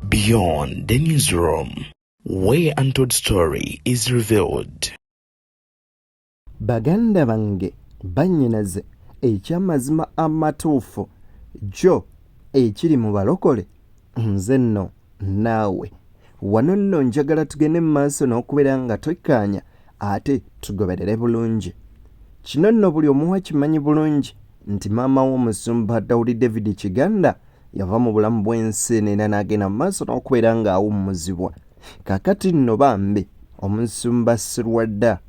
Beyond the newsroom, where untold story is revealed. Baganda bange bannyinaze eky'amazima amatuufu jo ekiri mu balokole nze nno naawe wano nno njagala tugende mu maaso n'okubeera nga twekkaanya ate tugoberere bulungi kino nno buli omuwa kimanyi bulungi nti maama w'omusumba dawudi david kiganda yava mu bulamu bw'ensi neera n'agenda mu maaso n'okubeera ng'awummuzibwa kakati nno bambi omusumba sirwadda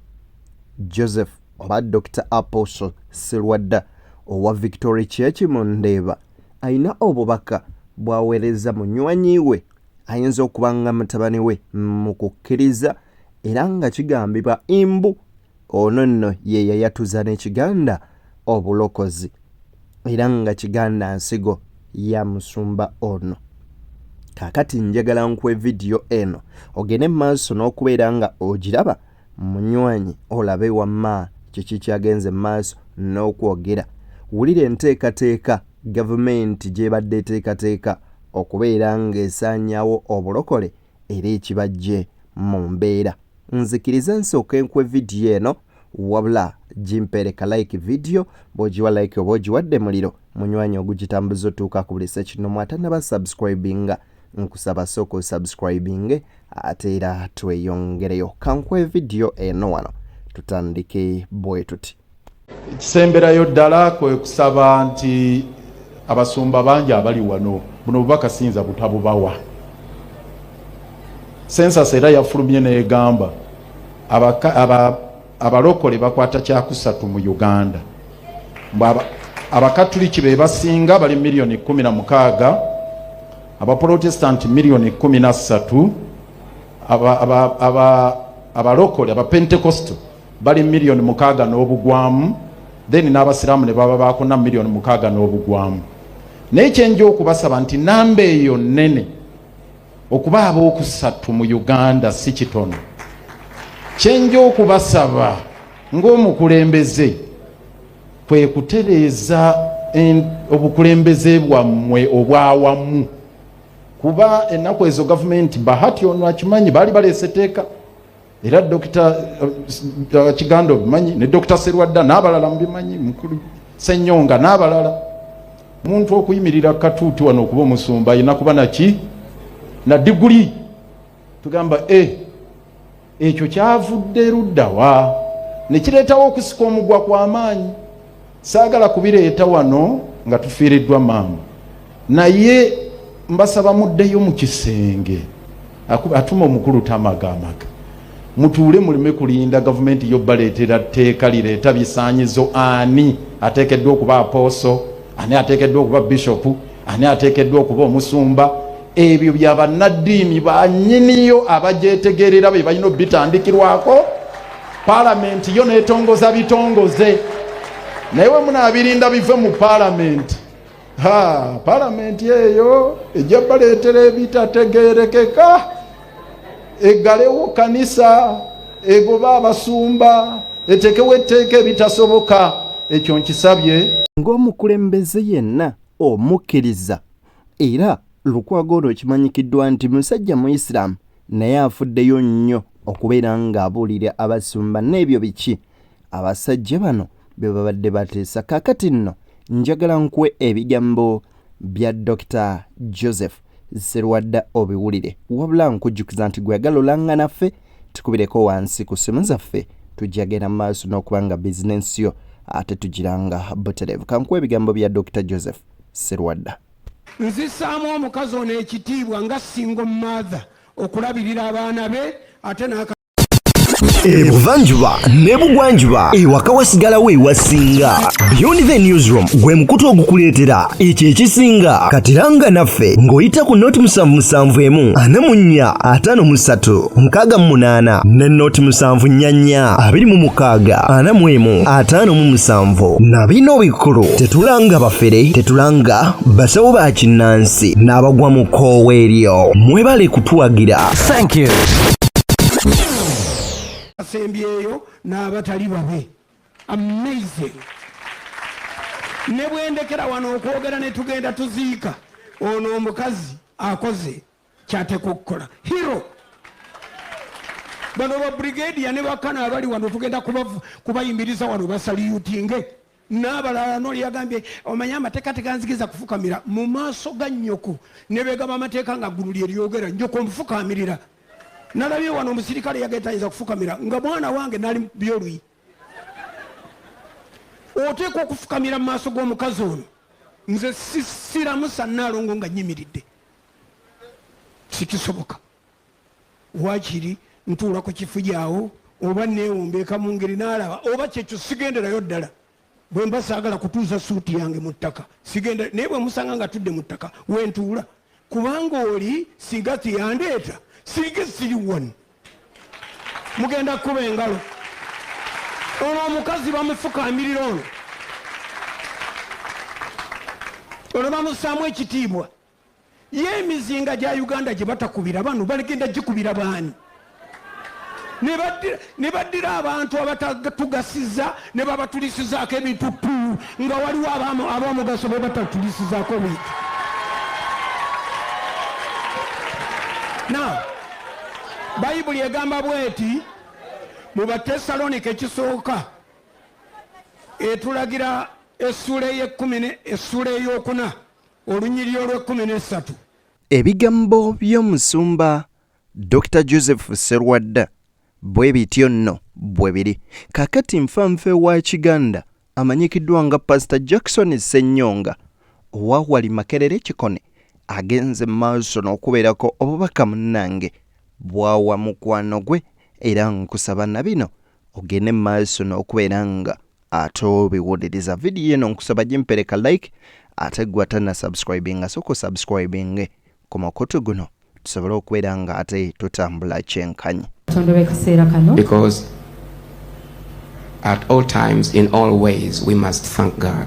joseph oba dr apostle sirwadda owa victory church mu ndeeba alina obubaka bw'aweereza munywanyi we ayinza okuba nga mutabani we mu kukkiriza era nga kigambibwa imbu ono nno ye yayatuza n'ekiganda obulokozi era nga kiganda nsigo ya musumba ono kakati njagala nkuwe vidiyo eno ogende mu maaso n'okubeera nga ogiraba Munywanyi olabe wamma kiki kyagenze mu maaso n'okwogera. Wulira enteekateeka Gavumenti gy'ebadde eteekateeka okubeera ng'esaanyaawo obulokole era ekibaggye mu mbeera. Nzikiriza nsooke nkuwe vidiyo eno wabula gimpeere ka like vidiyo bw'ogiwa like oba ogiwadde muliro munywanyi ogugitambuza otuuka ku buli ssekinnoomu atannaba subscribinga. nkusaba sooka osubscribinge ate era tweyongereyo kankuwe vidiyo eno wano tutandike bwe tuti ekisemberayo ddala kwe kusaba nti abasumba bangi abali wano buno bubaka siyinza butabubawa sensas era yafulumye negamba abalokole bakwata kyakusatu mu uganda mbu abakatuliki be basinga bali miliyoni kumi na mukaaga abapolotesitanti miliyoni kumi na ssatu abalokole abapentekosto bali miliyoni mukaaga n'obugwamu then n'abasiraamu ne baba bakuna miliyoni mukaaga n'obugwamu naye kyenja okubasaba nti namba eyo nnene okuba ab'okusatu mu uganda si kitono kyenja okubasaba ng'omukulembeze kwe kutereeza obukulembeze bwammwe obwawamu kuba ennaku ezo gavumenti bahati ono akimanyi baali baleese teeka era dokita uh, uh, kiganda obimanyi ne dokita serwadda n'abalala mubimanyi mukulu senyonga n'abalala muntu okuyimirira katuuti wano okuba omusumba ayina kuba naki na diguli tugamba e eh, ekyo kyavudde luddawa nekireetawo okusika omugwa kw'amaanyi saagala kubireeta wano nga tufiiriddwa maama naye mbasaba muddeyo mu kisenge atuma omukulu tamagaamaga mutuule muleme kulinda gavumenti yo baleetera tteeka lireeta bisaanyizo ani ateekeddwa okuba apooso ani ateekeddwa okuba bishopu ani ateekeddwa okuba omusumba ebyo bya bannaddiini banyiniyo abagyetegeerera be balina obitandikirwako Palamenti yo netongoza bitongoze naye we munaabirinda bive mu palamenti ha palamenti eyo ejja baleetera ebitategeerekeka eggalewo kanisa egoba abasumba etekewo etteeka ebitasoboka ekyo nkisabye ng'omukulembeze yenna omukkiriza era lukwago olwo kimanyikiddwa nti musajja muisiraamu naye afuddeyo nnyo okubeera ng'abuulira abasumba n'ebyo biki abasajja bano bye babadde bateesa kaakati nno njagala nkuwe ebigambo bya dr joseph serwadda obiwulire wabula nkujjukiza nti gweyagala olanga naffe tukubireko wansi ku ssimu zaffe tujja genda mu maaso n'okuba nga bizinensi yo ate tugiranga butereevu kankuwa ebigambo bya dr joseph serwadda Nzisaamu omukazi ono ekitiibwa nga single mother okulabirira abaana be ate n'aka ebuvanjuba nebugwanjuba ewaka wasigalawo ewasinga beyond the newsroom gwe mukutu ogukuleetera ekyo ekisinga katiranga naffe ng'oyita ku noti musanvu musanvu emu ana munnya ataano mu ssatu nkaaga mu munaana ne nooti musanvu nnyanya abiri mu mukaaga ana mu emu ataano mu musanvu na bino bikulu tetulanga bafere tetulanga basawo ba kinnansi n'abagwa mu koowa eryo mwebale kutuwagira thank you asembyeyo n'abatali babe amazing ne bwendekera wano okwogera ne tugenda tuziika ono omukazi akoze kyateekwa okukola hero bano babrigadiya ne bakana abali wano tugenda kubayimiriza wano basaliyutinge nabalala noli yagambye omanye amateeka teganzigiza kufukamira mu maaso ga nyoko nebegaba amateeka nga ggulu lyeryogera nyoko omufukamirira nalabye wano omusirikale yagetayinza kufukamira nga mwana wange nali byoluyi oteekwa okufukamira mu maaso g'omukazi ono nze siramusa nalongo nga nyimiridde sikisoboka wakiri ntuula ku kifujawo oba newombeeka mu ngeri nalaba oba kyekyo sigenderayo ddala bwe mba saagala kutuuza suuti yange mu ttaka sigenda naye bwe musanga nga tudde mu ttaka wentuula kubanga oli singa tiyandeeta singa siri wani mugenda kukuba engalo olwo omukazi bamufukamirira ono olwo bamusaamu ekitiibwa ye emizinga gya uganda gye batakubira bano baligenda gikubira baani ne baddira abantu abatatugasiza ne babatulisizaako ebintu pu nga waliwo abamugaso be batatulisizaako bintu na bayibuli egamba bweti mu batesalonika ekisooka etulagira essuula ey'ekkumi essuula ey'okuna olunyiriri olw'ekkumi n'essatu ebigambo by'omusumba dr joseph serwadda bwe bityo nno bwe biri kakati nfanfe wa kiganda amanyikiddwa nga pasita jackson ssennyonga owa wali makerere kikone agenze mu maaso n'okubeerako obubaka munnange bwawa mukwano gwe era nkusaba na bino ogende mu maaso n'okubeera nga ate obiwuliriza vidiyo eno nkusaba gimpereka like ate gwe atana subscribinga soka osubscribinge ku mukutu guno tusobole okubeera nga ate tutambula kyenkanyi Because at all times in all ways we must thank God.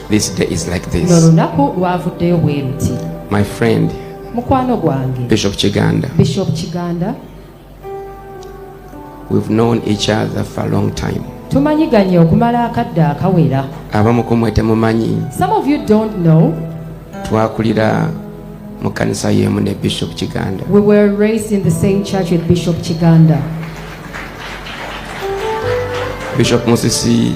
This day is like this. Nolunaku lwavuddeyo bweruti. My friend. Mukwano gwange. Bishop Kiganda. Bishop Kiganda. We've known each other for a long time. Tumanyiganye okumala akadde akawera. Abamu ku mwe temumanyi. Some of you don't know. Twakulira mu kanisa y'emu ne Bishop Kiganda. We were raised in the same church with Bishop Kiganda. Bishop Musisi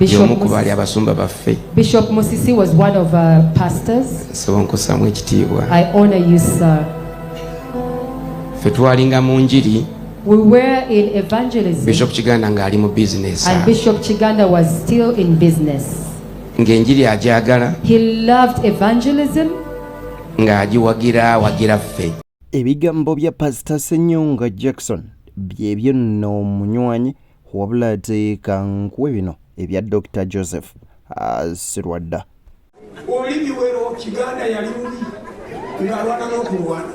y'omu ku baali abasumba baffe bishop musisi was one of our pastors nsaba onkusamu ekitiibwa i honor you sir ffe twalinga mu njiri We were in evangelism. Bishop Kiganda ng'ali mu business. And Bishop Kiganda was still in business. Ng'enjiri agyagala. He loved evangelism. Ng'agiwagira awagira ffe. Ebigambo bya Pastor Senyonga Jackson byebyo nno omunywanyi wabula ate kankuwe bino ebya dr joseph ah, sirwadda oli biwero kiganda yali mubi ng'alwana n'okulwana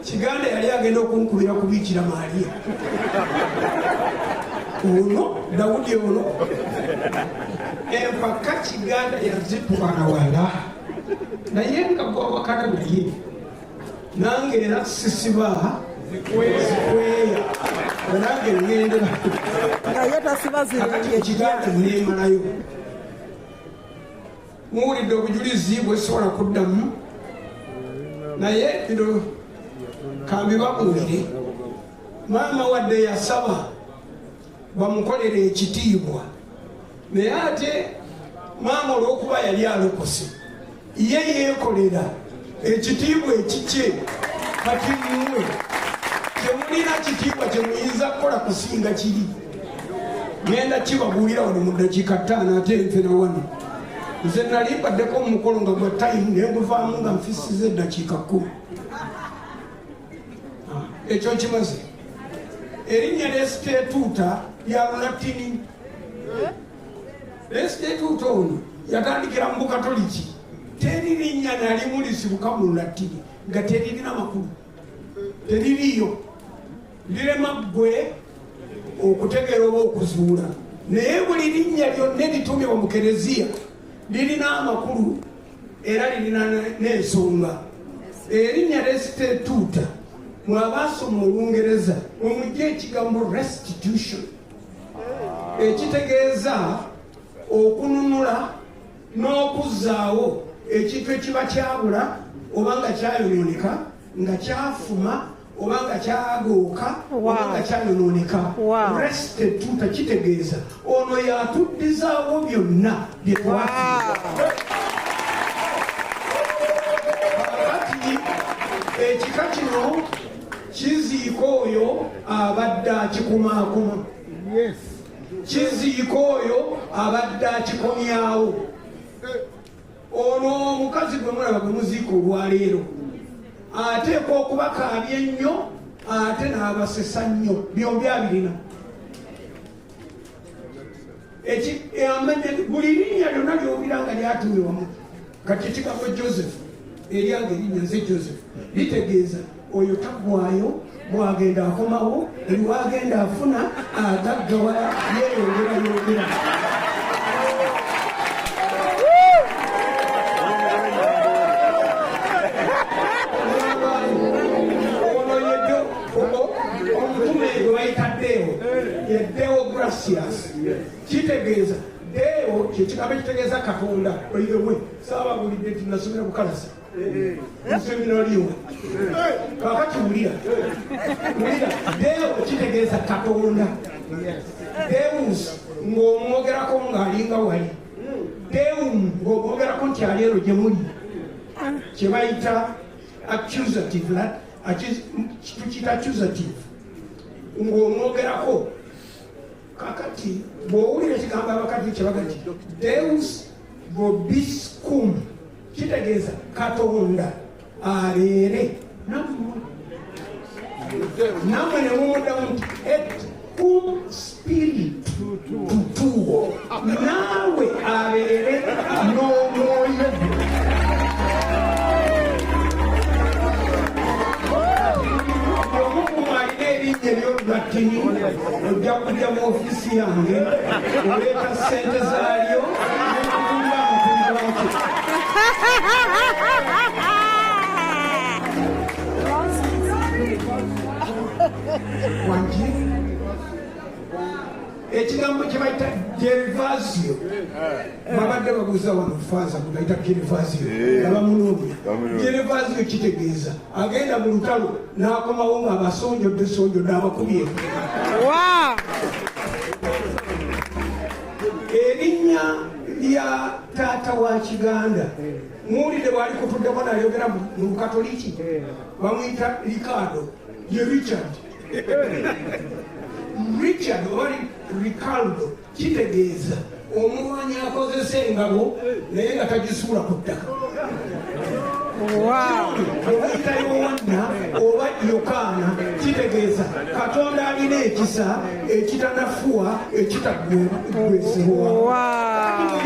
kiganda yali agenda okunkubira kubiikira maaliya ono dawudi ono empaka kiganda yazitwala wala naye nga gwawakana naye nange era sisiba zikweya nange ŋendera naye tasiba ziriekigati nemalayo muwulidde obujulizi bwesobola kuddamu naye bino kambibabuulire maama wadde yasaba bamukolera ekitiibwa naye ate maama olwokuba yali alokose ye yeekolera ekitiibwa ekikye kati mwe temulina kitiibwa kyemuyinza kukola kusinga kiri genda kibabuulira wano mu dakiika ttaano ate nfena wano nze nali mbaddeko omukolo nga gwa tayimu nenguvaamu nga nfisiza eddakiika kkumi ah, ekyo nkimaze erinnya lesitetuuta lya lulatini lesitetuuta ono yatandikira mu bukatoliki teri linnya nalimu lisibuka mu lulatini nga teririna makulu teririyo lirema ggwe okutegeera oba okuzuula naye buli linnya lyonna eritumibwa mu kereziya lirina amakulu era lirina n'ensonga erinnya resitetuuta mwabaasoma olungereza omujja ekigambo restitution ekitegeeza okununula n'okuzzaawo ekintu ekiba kyabula oba nga kyayonooneka nga kyafuma oba nga kyagooka oba nga kyayonooneka restituta kitegeeza ono yatuddizaawo byonna byetwakati ekika kino kiziika oyo abadde akikumaakuma kiziika oyo abadde akikomyawo Ono omukazi gwe mulaba gwe muziika olwaleero ateekwa okubakaabya ennyo ate n'abasesa nnyo byombi abirina eh, buli linnya lyonna lyobira nga lyatumiwamu kati ekigambo joseph eryange erinnya nze joseph litegeeza oyo tagwayo bwagenda akomawo eriwagenda afuna agaggawala yeyongera yongera kitegeeza deo kyekigamba ekitegeeza katonda oirewe saababulidde nti nasomera bukalasi nseminaliwo kakati wulira wulira deo kitegeeza katonda deus ng'omwogerako ng'alinga wali deum ng'omwogerako nti ali ero gye muli kye bayita accusative tukiyita accusative ng'omwogerako kakati bw'owulira ekigambo abakadde kye bagati deus vobiscum kitegeeza katonda abeere nammwe nammwe ne mumuddamu nti ekum spirit tutuwo naawe abeere n'omwoyo omukumu alina ebinnya ebyolulatini ojja kujja mu ofiisi yange oleeta ssente zaalyo nekutumba amutumba wakyo ekigambo kyebayita gervasio babadde babuuza wano faaza gwebayita gervasio abamunoonya gervasio kitegeeza agenda mu lutalo n'akomawo nga abasonjodde sonjodde abakubye erinnya lya taata wa kiganda muwulidde bwali kutuddeko nayogera mu bukatoliki bamuyita ricardo ye richard richard oba ricardo kitegeeza omulwanyi akozesa engabo naye nga tagisuula ku ttaka obayita yowanna oba yokaana kitegeeza katonda alina ekisa ekitanafuwa ekitagwesibwa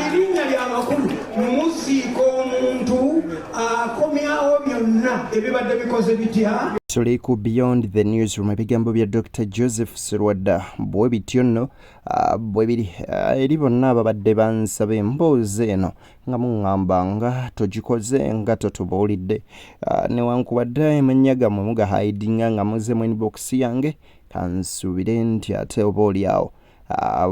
erinnya lyamakulu muziika omuntu akomyawo byonna ebibadde bikoze bitya tuli ku beyond the newsroom ebigambo bya dr joseph sirwadda bwe bityo nno Ah, bwe biri ah, eri bonna ababadde bansaba emboozi eno nga muŋŋamba nga togikoze nga totubuulidde ah, newankubadde amannya gammwe mugahaidinga nga muze mu inbox yange kansuubire nti ate oba oli awo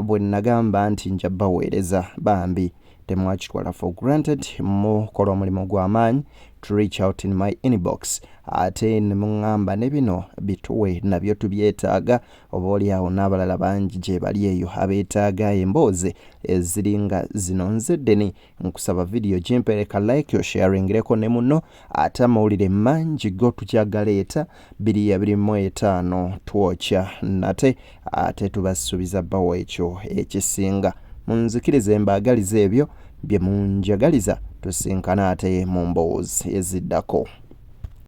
bwe nnagamba nti nja baweereza bambi temwakitwala for granted mukola omulimu gw'amaanyi to reach out in my inbox ate ne muŋŋamba ne bino bituwe nabyo tubyetaaga oboolyawo n'abalala bangi gyebali eyo abeetaaga emboozi eziri nga zino nze deni nkusaba vidiyo gimpereka like osharingireko ne muno ate amawulire mangi go tujja galeeta biri abiri mu etaano twokya nate ate tubasuubiza bawo ekyo ekisinga munzikirize mbaagaliza ebyo bye munjagaliza tusinkana ate mu mboozi eziddako